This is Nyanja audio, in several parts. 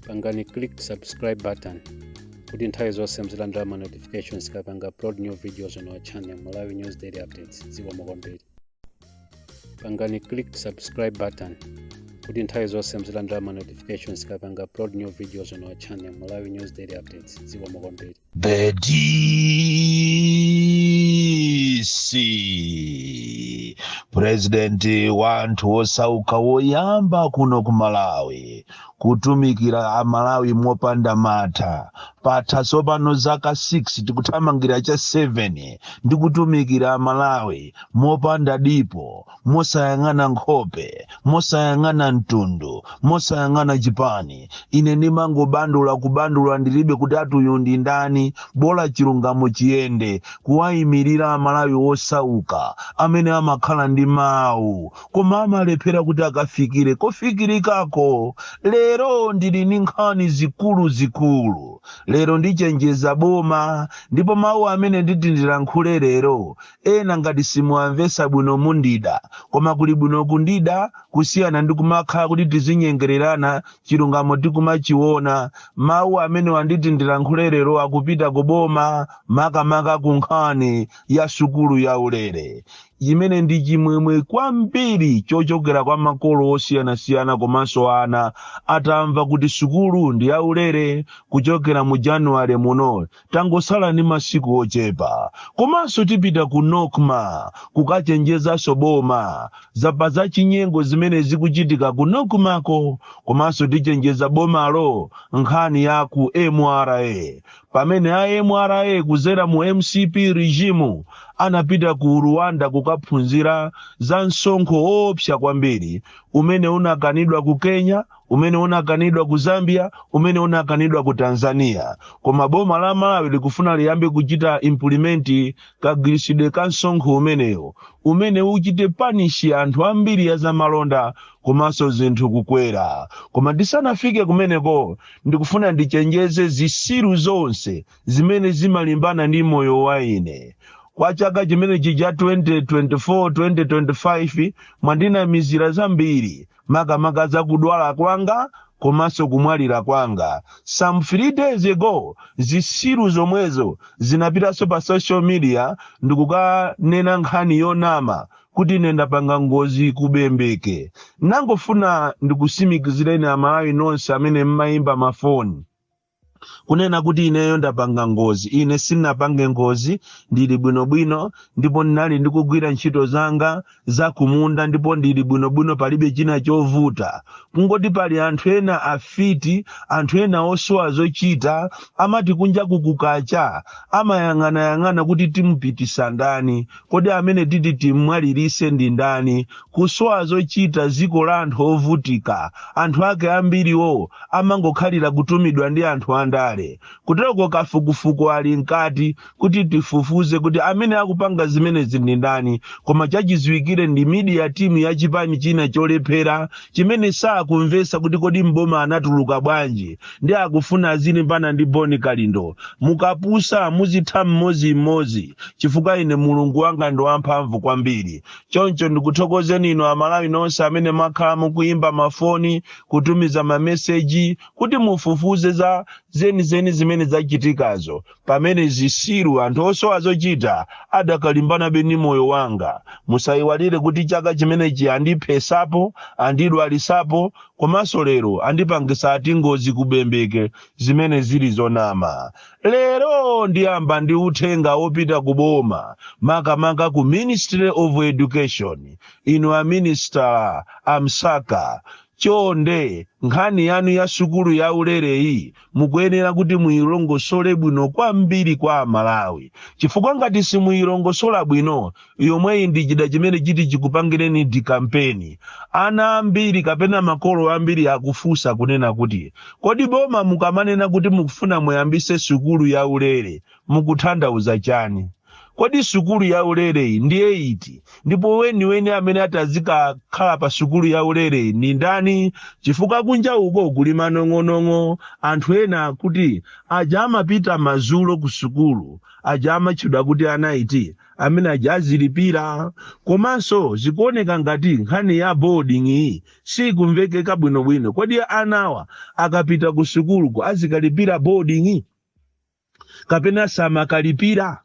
pangani click subscribe button kuti nthawi zonse muzilandira ma notifications tikapanga upload new videos on our channel malawi news daily updates zikomo kwambiri pangani click subscribe button kuti nthawi zonse muzilandira ma notifications kapanga upload new videos on our channel malawi news daily updates dziko mokomberi The DC president wa anthu osauka woyamba kuno ku Malawi kutumikira a Malawi mopanda mantha patha tsopano zaka 6 tikuthamangira cha 7 ndi kutumikira a Malawi mopanda dipo mosayang'ana nkhope mosayang'ana mtundu mosayang'ana chipani ine ndimangobandula kubandula ndilibe kuti ati uyu ndi ndani bola chilungamo chiyende kuwayimirira amalawi osauka amene amakhala ndi mawu koma amalephera kuti akafikire kofikirikako lero ndili ndi nkhani zikuluzikulu lero ndichenjeza boma ndipo mawu amene nditi ndilankhule lero Ena ngati simuwamvetsa bwino mundida, koma kuli bwino kundida kusiyana ndi kumakhala kuti tizinyengererana chilungamo tikumachiona. Mawu amene nditi ndilankhule lero akupita ku boma makamaka ku nkhani ya sukulu ya ulere imene ndi chimwemwe kwambiri chochokera kwa makolo osiyanasiyana komanso ana atamva kuti sukulu ndi ya ulere kuchokera mu January muno Tangotsala ndi masiku ochepa komanso tipita ku Nocma kukachenjezanso boma za pa za chinyengo zimene zikuchitika ku Nocmako komanso tichenjeza bomalo nkhani ya ku mra pamene a mra kudzera mu mcp regime anapita ku Rwanda kukaphunzira za msonkho woopsa kwambiri umene unakanidwa ku Kenya umene unakanidwa ku zambia umene unakanidwa ku tanzania koma boma la malawi likufuna liyambe kuchita implement kagwiritsidwe ka msonkho umenewo umene uchite punish anthu ambiri a zamalonda komanso zinthu kukwera koma ndisanafike kumeneko ndikufuna ndichenjeze zisiru zonse zimene zimalimbana ndi moyo wa ine kwa chaka chimenechi cha 2024 2025 mwandinamizira zambiri makamaka za kudwala kwanga komanso kumwalira kwanga some three days ago zisiru zomwezo zinapitanso pa social media ndikukanena nkhani yonama kuti ine ndapanga ngozi ku Bembeke ndangofuna ndikutsimikizireni amalawi nonse amene mmayimba mafoni kunena kuti ineyo ndapanga ngozi ine sinapange ngozi ndili bwinobwino ndipo ndinali ndikugwira ntchito zanga za kumunda ndipo ndili bwinobwino palibe china chovuta kungoti pali anthu ena afiti anthu ena osowa zochita amati kunja kukukacha amayang'anayang'ana kuti timupitisa ndani Kodi amene titi timmwalirise ndi ndani? Kusowa zochita ziko la anthu ovutika. Anthu ake ambiriwo amangokhalira kutumidwa ndi anthu andale. Kuteroko kafukufuku ali mkati kuti tifufuze kuti amene akupanga zimenezi ndi ndani koma chachiziwikire ndi media team ya chipani china cholephera chimene sakumvesa kuti kodi m'boma anatuluka bwanji ndi akufuna azilimbana ndi boni kalindo mukapusa muzitha mmodzimmodzi chifukwa ine mulungu wanga ndo wamphamvu kwambiri choncho ndikuthokozeni inu amalawi nonse amene mwakhala mukuyimba mafoni kutumiza mameseji kuti mufufuze za zenizeni zimene zachitikazo Pamene zisiru, anthu osowa zochita, adakalimbanabe ndi moyo wanga. Musaiwalire kuti chaka chimenechi andiphesapo, andidwalisapo, komanso lero andipangisa ati ngozi ku Bembeke zimene zili zonama. Lero ndiyamba ndi uthenga wopita ku boma makamaka ku Ministry of Education. Inu a Minister a Msaka, Chonde, nkhani yanu ya sukulu yaulereyi mukuyenera kuti muilongosole bwino kwambiri kwa a Malawi chifukwa ngati simuilongosola bwino, yomweyi ndi chida chimene chiti chikupangireni dikampeni. Ana ambiri kapena makolo ambiri akufunsa kunena kuti, kodi boma mukamanena kuti mukufuna muyambise sukulu yaulere, mukuthandauza chani kodi sukulu ya ulereyi ndiye iti ndipo weniweni amene atazikakhala pa sukulu ya ulereyi ndi ndani chifukwa kunja uko kuli manong'onong'o anthu ena akuti aja amapita mazulo ku sukulu aja amatchedwa kuti a night amene aja azilipira komanso zikuoneka ngati nkhani ya boarding iyi sikumvekeka bwinobwino kodi anawa akapita ku sukuluko azikalipira boarding kapena samakalipira?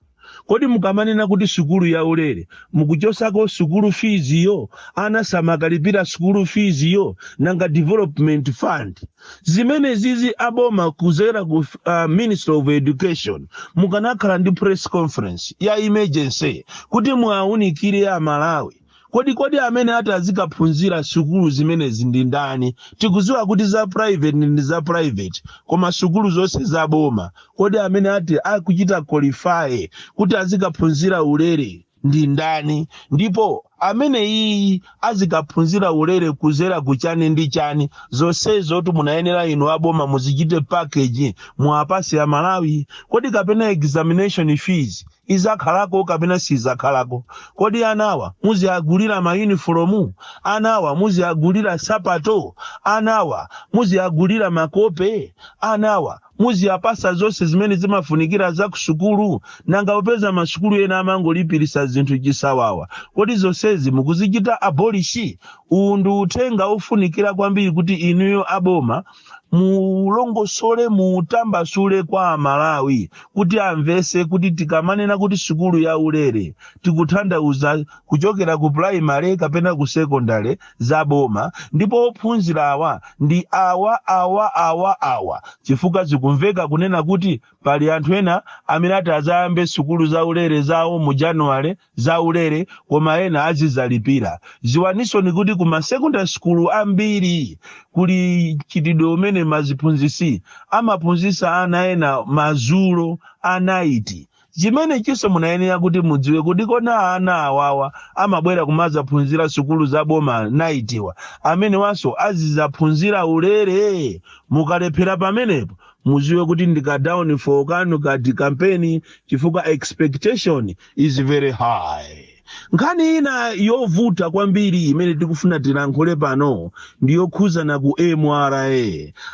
Kodi mukamanena kuti sukulu yaulere mukuchosako sukulu fees yo? Ana samakalipira sukulu fees yo? Nanga development fund? Zimene zizi a boma kudzera ku uh, Ministry of Education mukanakhala ndi press conference ya emergency kuti muwaunikire a Malawi Kodi kodi amene ati azikaphunzira sukulu zimenezi ndi ndani? Tikuziwa kuti za private ndi za private koma sukulu zonse za boma kodi amene ati akuchita qualify kuti azikaphunzira ulere ndi ndani? Ndipo ameneyiyi azikaphunzira ulere kuzera ku chani ndi chani? Zonsezitu munayenera inu a boma muzichite package muwapatse a Malawi. Kodi kapena examination fees izakhalako kapena siizakhalako? Kodi anawa muziagulira ma uniform? Anawa muziagulira nsapato? Anawa muziagulira makope? Anawa muziwapatsa zonse zimene zimafunikira za ku sukulu? Nanga popeza ma sukulu ena amangolipirisa zinthu chisawawa, kodi zonsezi mukuzichita abolish? Uwu ndi uthenga ofunikira kwambiri kuti inuyo a boma mulongosole mutambasule kwa amalawi kuti amvese kuti tikamanena kuti sukulu ya ulere tikutanthauza kuchokera ku primary kapena ku secondary za boma ndipo ophunzira awa ndi awa awa awa awa chifukwa zikumveka kunena kuti pali anthu ena amene ati azayambe sukulu za ulere zawo mu january zaulere koma ena azizalipira. Ziwaninso kuti ku ma secondary school ambiri kuli mchitidwe umene aziphunzitsi amaphunzitsa ana ena madzulo a night chimene chinso munayenera kuti mudziwe kuti kodi ana awawa amabwera kumazaphunzira sukulu za boma nightiwa amenewanso azizaphunzira ulere mukalephera pamenepo muziwe kuti ndi ka downfall kanu ka de-campaign chifukwa expectation is very high nkhani ina yovuta kwambiri imene tikufuna tilankhule pano ndi yokhuzana ku mra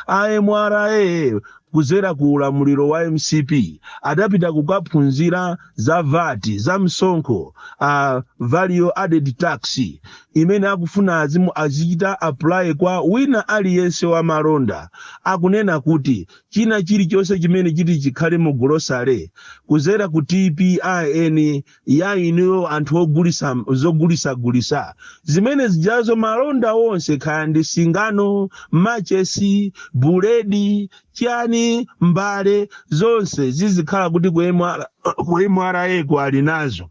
a mra kuzera ku ulamuliro wa mcp adapita kukaphunzira za VAT za msonkho wa value added tax imene akufuna azimu azichita apply kwa wina aliyense wa malonda akunena kuti china chili chonse chimene chiti chikhale mu Grocery kuzera ku TPIN ya inuyo anthu ogulisa zogulisa gulisa zimene zijazo malonda onse kaya ndi singano, machesi, buledi, chani, mbale zonse zizikhala kuti ku MRA ko ali nazo.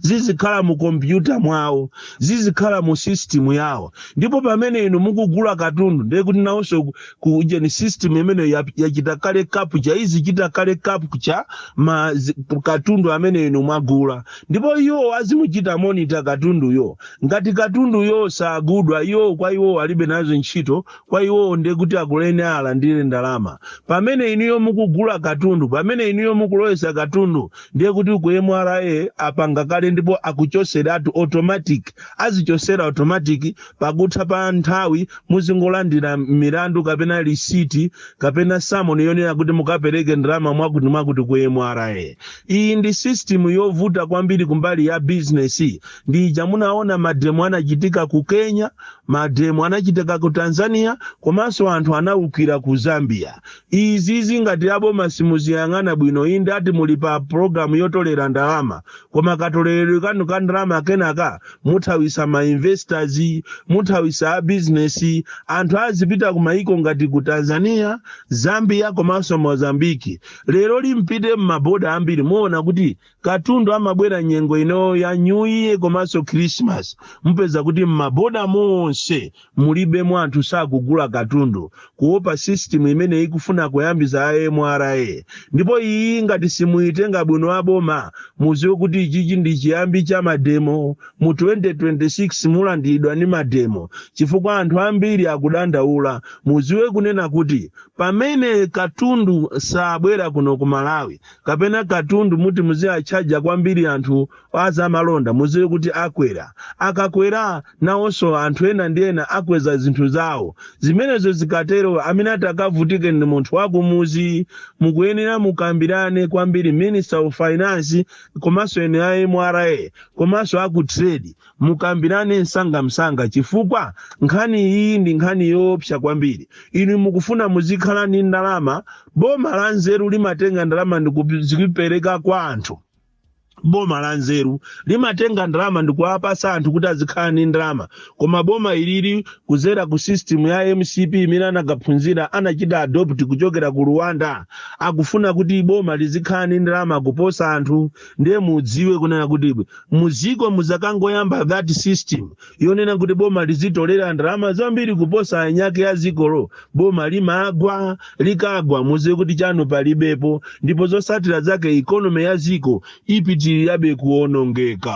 zizikhala mu kompyuta mwawo zizikhala mu system yawo ndipo pamene inu mukugula katundu ndiye kuti nawonso ku- ku ujeni system imeneyo ya- yachita kale capture izichita kale capture ma zi- katundu amene inu mwagula ndipo iwo azimuchita monitor katunduyo ngati katunduyo sagulidwa iwo kwa iwo alibe nazo ntchito kwa iwo ndiye kuti akulemba alandire ndalama pamene inuyo mukugula katundu pamene inuyo mukulowesa katundu ndiye kuti ku mra apanga kale ndipo akuchoseratu automatic azichosera automatic pakutha pa nthawi muzingolandira milandu kapena lisiti kapena samoni yonena kuti mukapereke ndalama mwakuti mwakuti ku mra iyi ndi system yovuta kwambiri kumbali ya bizinesi ndi ija munaona mademo anachitika ku kenya mademo anachitika ku tanzania komanso anthu anaukira ku zambia Izizi ngati aboma simuziyang'ana bwino inde ati muli pa program yotolera ndalama koma katoleledwe kanu ka ndalama kenaka muthawisa ma investors, muthawisa a business, anthu azipita ku maiko ngati ku Tanzania, Zambia komanso Mozambique. Leroli mpite mma border ambiri muona kuti katundu amabwera nyengo ino ya new year komanso christmas mupeza kuti m'maboda monse mulibemo anthu sakugula katundu kuopa system imene ikufuna kuyambisa mra ndipo iyi ngati simuyitenga bwino aboma muziwe kuti ichichi ndi chiyambi cha mademo mu 2026 mulandiridwa ni mademo chifukwa anthu ambiri akudandaula muziwe kunena kuti pamene katundu sabwera kuno ku malawi kapena katundu muti muziatchaja kwambiri anthu a zamalonda muziwe kuti akwera akakwera nawonso anthu ena ndi ena akweza zinthu zawo zimenezo zikatero amene atakavutike ndi munthu wakumuzi mukuyenera mukambirane kwambiri minister of finance komanso eni a mra komanso aku trade Mukambirane msangamsanga chifukwa nkhani iyi ndi nkhani yoopsa kwambiri. Inu mukufuna muzikhala ndi ndalama? Boma lanzeru limatenga ndalama ndi kuzipereka kwa anthu. Boma lanzeru limatenga ndalama ndi kuwapasa anthu kuti azikhala ndi ndalama. Koma boma ilili kudzera ku system ya mcp imene anakaphunzira anachita adopt kuchokera ku Rwanda. Akufuna kuti boma lizikhala ndi ndalama kuposa anthu. Ndiye mudziwe kunena kuti Muziko muzakangoyamba that system yonena kuti boma lizitolera ndalama zambiri kuposa anyake a zikolo boma limagwa likagwa muziwe kuti chanu palibepo ndipo zosatira zake economy ya ziko ipitirirabe kuonongeka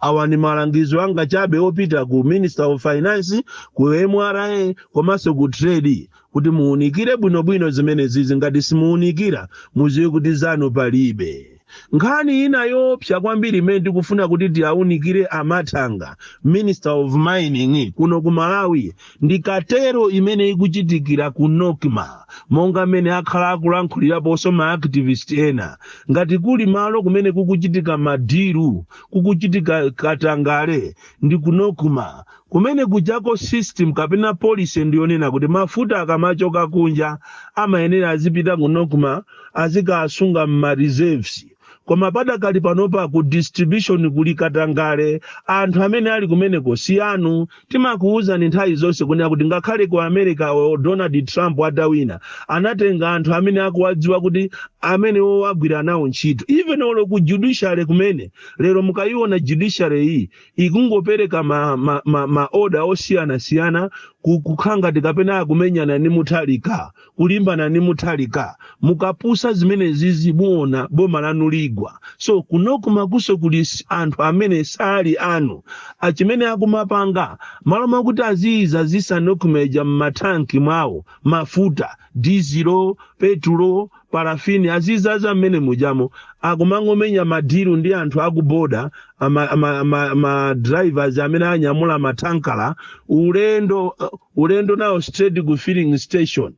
awa ni malangizo anga chabe opita ku minister of finance ku mra komanso ku trade kuti muunikire bwinobwino zimenezizi ngati simuunikira muziwe kuti zanu palibe nkhani ina yoopsa kwambiri imene tikufuna kuti tiaunikire a mathanga minister of mining kuno ku malawi ndi cartel imene ikuchitikira ku nocma monga mmene akhala akulankhuliraponso ma activist ena ngati kuli malo kumene kukuchitika ma deal kukuchitika katangale ndi ku nocma Kumene kujako system kapena policy ndi yonena kuti mafuta akamachoka kunja amayenera azipita ku Nocma azikasunga mma reserves koma padakali panopa ku distribution kuli katangale anthu amene ali kumeneko si anu. Timakuuzani nthawi zonse kunena kuti ngakhale ku America or Donald Trump atawina anatenga anthu amene akuwadziwa kuti amene wagwira nawo ntchito even olo ku judiciary kumene lero mukaiona judiciary iyi ikungopereka ma, ma, ma, ma oda osiyanasiyana ku- kukhala ngati kapena akumenyana ni Mutharika kulimbana ni Mutharika mukapusa zimenezizi muona boma lanu ligwa so ku Nocma kunso kuli s- anthu amene sali anu achimene akumapanga malo mwakuti aziidzadzitsa Nocma ija m'mathanki mwawo mafuta dizilo petulo parafini azidzadza mmene mujamo akumangomenya madiru ndi anthu akuboda ama, ama, ama, ama drivers amene anyamula mathankala ulendo uh, ulendo nawo straight ku filling station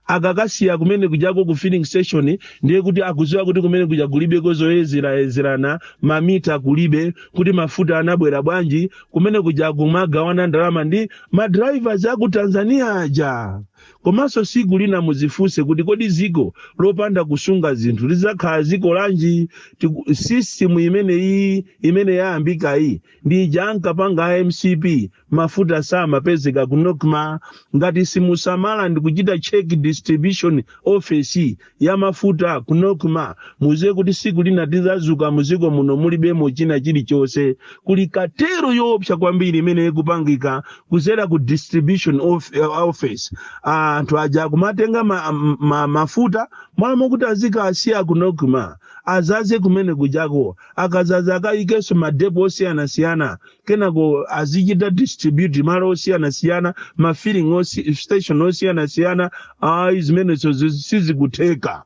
akakasiya kumene kujako ku filling station ndiye kuti akuziwa kuti kumene kuja kulibe kozoyezerana mamita kulibe kuti mafuta anabwera bwanji kumene kuja kumagawana ndalama ndi madrivers aku Tanzania aja Komanso siku lina muzifunse kuti kodi ziko lopanda kusunga zinthu lizakhala ziko lanji? Tiku, system imene iyi imene yayambika iyi ndi ija ankapanga a MCP mafuta samapezeka ku Nocma. Ngati simusamala ndikuchita check distribution office ya mafuta ku Nocma muziwe kuti siku lina tizazuka muziko muno mulibemo china chilichonse kuli katero yoopsa kwambiri imene ikupangika kuzera ku distribution of, eh, office anthu aja akumatenga ma, ma, mafuta mmalo mwakuti azikasiya ku Nocma adzadze kumene kujako akadzadza akayikenso madepo osiyanasiyana kenako azichita distribute malo osiyanasiyana ma filling osi, station osiyanasiyana ayi zimenezo zi- sizikutheka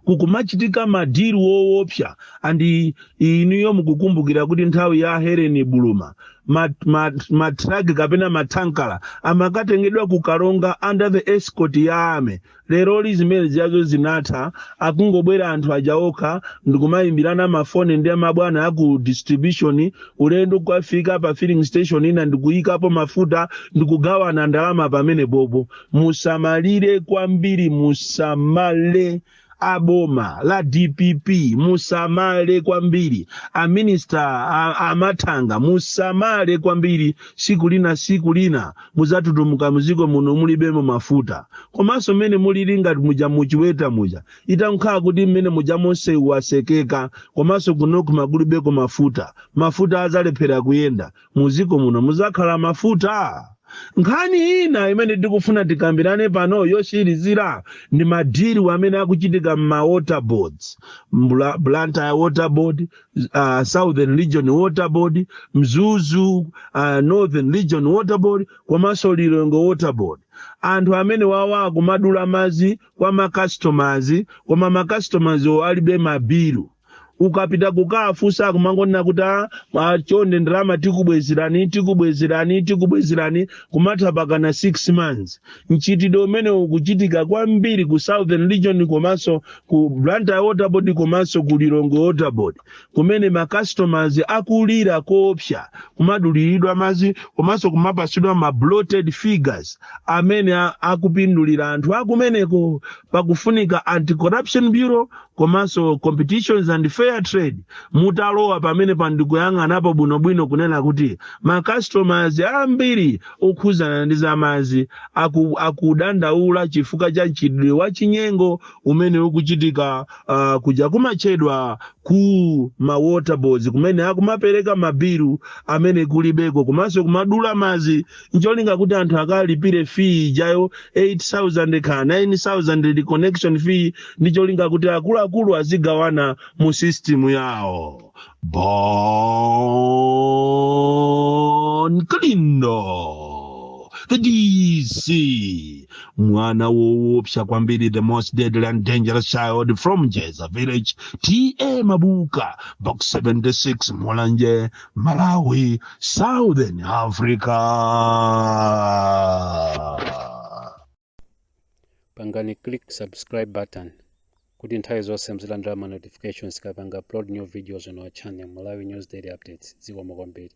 kukumachitika madiru woopsa andi inuyo mukukumbukira kuti nthawi ya Helen Buluma matraki ma, ma matraki kapena mathankala amakatengedwa ku Karonga under the escort ya army leroli zimene zijazo zinatha akungobwera anthu aja okha ndikumayimbirana mafoni ndi mabwana aku distribution ulendo kukafika pa filling station ina ndikuyikapo mafuta ndikugawana ndalama pamenepopo musamalire kwambiri musamale aboma la DPP musamale kwambiri a Minister a- a Mathanga musamale kwambiri siku lina siku lina muzatutumuka muziko muno mulibemo mafuta komanso mmene mulilinga muja mu Chiweta muja itakhala kuti mmene muja monse wasekeka komanso kunoku makulibeko mafuta mafuta azalephera kuyenda muziko muno muzakhala mafuta nkhani ina imene tikufuna tikambirane pano yotsirizira ndi madili amene akuchitika m'ma water boards Bla- blantyre water board uh, southern region water board mzuzu uh, northern region water board komanso lilongwe water board anthu amene awa akumadula madzi kwa ma customers koma ma customers wo alibe mabilu ukapita kukafunsa akumangonena kuti "Ah, ah, chonde ndalama tikubwezerani tikubwezerani tikubwezerani kumatha mpakana 6 months mchitidwe umenewu ukuchitika kwambiri ku southern region komanso ku blantyre waterboard komanso ku lilongwe waterboard kumene ma customers akulira koopsa kumaduliridwa madzi komanso kumapatsidwa ma bloated figures amene a- akupindulira anthu akumeneko pakufunika anti corruption bureau komanso competitions and fair trade mutalowa pamenepa ndikuyang'anapo bwinobwino kunena kuti ma customers ambiri okhuzana ndi zamazi aku, akudandaula chifukwa cha mchitidwe wa chinyengo umene ukuchitika uh, kuja kumatchedwa ku ma water boards kumene akumapereka mabilu amene kulibeko komanso kumadula mazi ncholinga kuti anthu akalipire fee ijayo 8000 kaya 9000 ndi connection fee ndi cholinga kuti akuluakulu azigawana mu system yawo bon kalindo the dc mwana woopsa kwambiri the most deadly and dangerous child from njeza village ta mabuka box 76 mulanje malawi southern africa pangani click subscribe button kuti nthawi zonse muzilandira ma notifications tikapanga upload new videos on our channel malawi news daily updates zikomo kwambiri